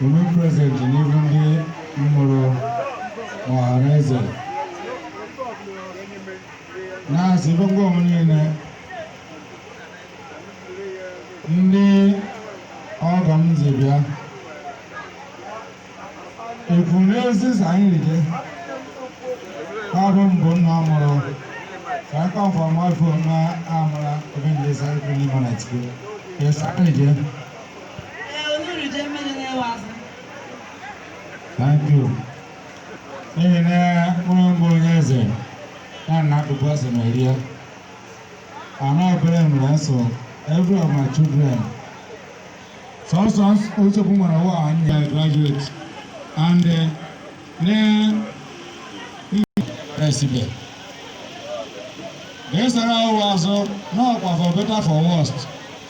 Women President n'ihu ndị m mụrụ ọhaneze na-asị gbogbo onwe niile ndị ọgọ m ji bịa ekwu n'ezizi anyị rije ọrụ mbụ nna mụrụ ka aka ọfọmọfọ na amụra obi ndị sa ekwu n'ime na tikwu ya sa anyị rije Thank you. N'ihi na mkpụrụ mbụ onye eze ya na akụkụ ose na eri ya. Ana obere mere nso every of my children. Sọsọ nsogbu nwere ụwa anyị ya graduate and uh, na esibe. Ga-esara ụwa azụ n'ọkwa for better for worse.